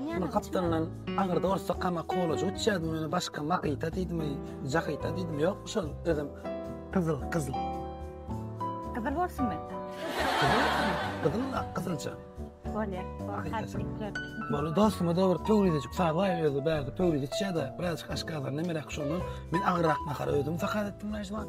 Muny gapdalyndan agyrda ursa kama kolajyk uçýardy meni başga makyta diýdimi jakyta diýdimi ýokmy şol özem gyzyl gyzyl gyzyl bolsunmy gyzyl gyzylja bolýar Bolu dostumy dogry pöwrizejik sabaý özi bärde pöwriz içýärdi birazjyk aşgazan nemeräk şondan men agyrak nahar özüm sakat etdim näjman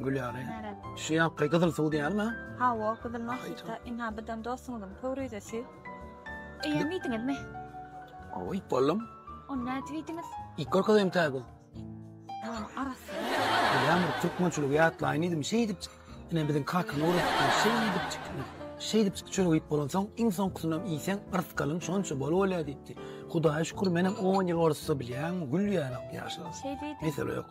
Gülýary. Şu ýapgy gyzyl suw diýýärmi? Hawa, gyzyl nohita. Ina bizden dostuňyzyň pöwrizesi. Eýýäm iýdiňizmi? Hawa, iýip boldum. Ony nädip iýdiňiz? Iýip görkezeýin täze. Ýaman arassa. Ýa men türkmençiligi ýatlaýyn diýdim, şeýdip ine biziň kakany öwretdiler, şeýdip şeýdip çörek iýip bolansoň, iň soňkusynam iýseň yrtgalyň şonça bol bolýar diýipdi. Hudaýa şükür, menem on ýyl orusça bilýän, gülýär ýaşuly. Mesele ýok.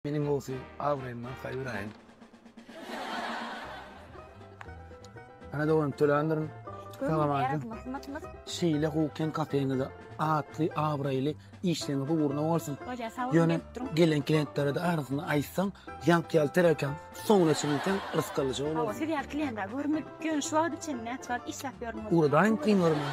Meniň bolsa abraýymdan haýyr aýyň. Ana dogan töländiriň. Salamaleýkum. Şeýle hukyn kafeňizde atly, abraýly işleriňiz ugruna bolsun. Ýöne gelen klientlere de arzyny aýtsaň, ýaňky ýaly terekan soňuna çenli sen rysg alyjy bolarsyň. Siz ýaly klientleri görmedik ýöne şu wagta çenli näçe wagt işläp ýörüňiz? Ugradaýyň kynlaryna.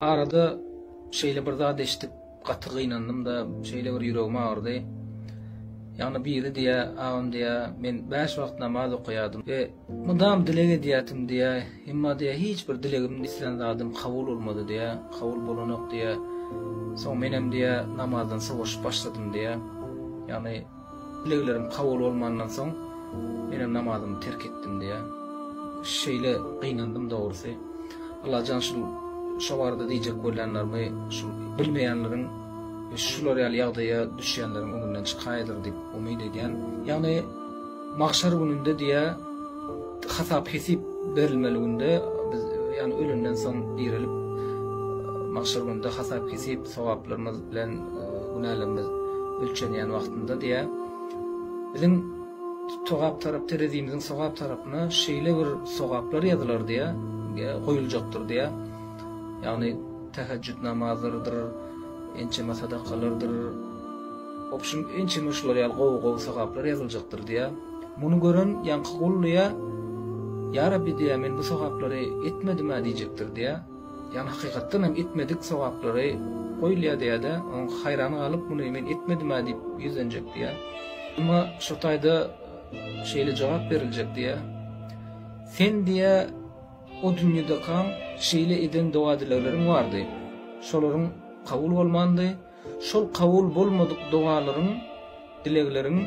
Arada şeýle bir zat eşidip gaty gynandym-da, şeýle bir ýüregim agyrdy. Ýagny biri diýýär, agam diýýär, men bäş wagt namaz okaýardym we mydam dileg edýärdim diýýär, emma diýýär, hiç bir dilegim, islän zadym kabul bolmady diýýär, kabul bolanok diýýär. Soň menem diýýär, namazdan sowaşyp başladym diýýär. Ýagny. Dileglerim kabul bolmandan soň, menem namazymy terk etdim diýýär. Şeýle gynandym dogrusy. Allajan şul şo barada diýjek bolýanlarymy şul bilmeýänleriň we şular ýaly ýagdaýa düşýänleriň öňünden çykaýdyr diýip umyt edýän. Ýagny magşar gününde diýýär hasap hesip berilmeli günde biz ýagny ölenden soň direlip magşar gününde hasap hesip Sogaplarymyz bilen günälerimiz ölçenýän wagtynda diýä. Biziň sogap tarap terezimiziň sogap tarapyna şeýle bir sogaplar ýazylar diýä, goýuljakdyr diýä. Ýagny tähejjüt namazydyr, ençeme sadakalardyr. Obşim ençeme şular ýaly gowy gowy sogaplar ýazyljakdyr diýä. Muny gören ýaňky gul diýä, Ýa Rabbi diýä, men bu sogaplary etmedim-ä diýjekdir diýä. Ýagny hakykatdan hem etmedik sogaplary goýulýar diýýärdi, oň haýran galyp muny men etmedimä diýip ýüzlenjek diýýär. Emma şo taýda şeýle jogap beriljek diýýär, Sen diýýär o dünýedekaň şeýle eden doga-dilegleriň bardy, şolaryň kabul bolmandy, Şol kabul bolmadyk dogalaryň, dilegleriň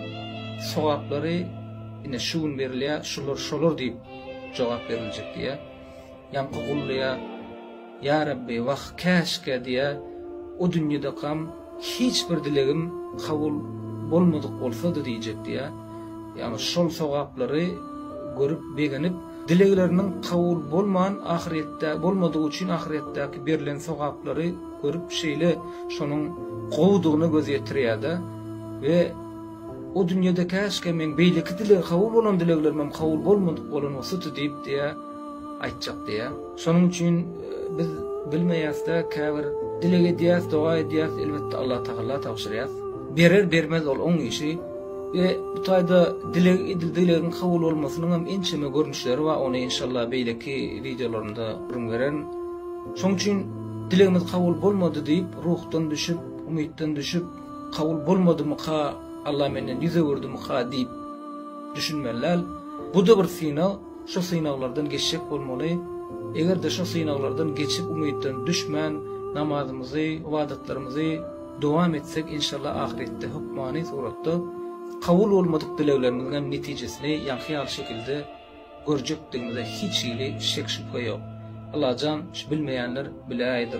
sogaplary ine şu gün berilýär, şular şolar diýip jogap beriljek diýýär. Ýaňky gulluýa, Ýa Rabbi, wah, käşgä diýýär, o dünýedekam hiç bir dilegim kabul bolmadyk bolsady diýjek diýýär. Ýagny şol sogaplary görüp begenip, dilegleriniň kabul bolman ahyretde bolmadygy üçin ahyretdäki berlen sogaplary, Görüp şeýle şonuň gowudygyna göz ýetirýärde we O dünýede käşgä meň beýleki dileg kabul bolan dileglerimem kabul bolmadyk bolan bolsady diýip diýýär, aýtjak diýýär. Şonuň üçin biz bilmeýäsde käbir dileg edýäs, doga edýäs, elbetde Allah Tagalla tabşyrýas. Berer bermez ol oň işi we bu taýda dileg edildi dilegiň kabul bolmasynyňam ençeme görnüşleri bar ony enşalla beýleki wideolarymda gürrüň bererin. Şoň üçin dilegimiz kabul bolmady diýip, ruhdan düşüp, umytdan düşüp, kabul bolmadymyka, Alla menden ýüz öwürdimika diýip düşünmeli däl. Bu-da bir synag, şu synaglardan geçjek bolmaly. Eger-de şu synaglardan geçip, umytdan düşmän, namazymyzy, ybadatlarymyzy dowam etsek, inşallah ahyretde hökmany suratda kabul bolmadyk dileglerimiziň hem netijesini ýaňky ýaly şekilde görjekdigimize hiç hili şek-şübhe ýok. Allajan şu bilmeýänler biläýdir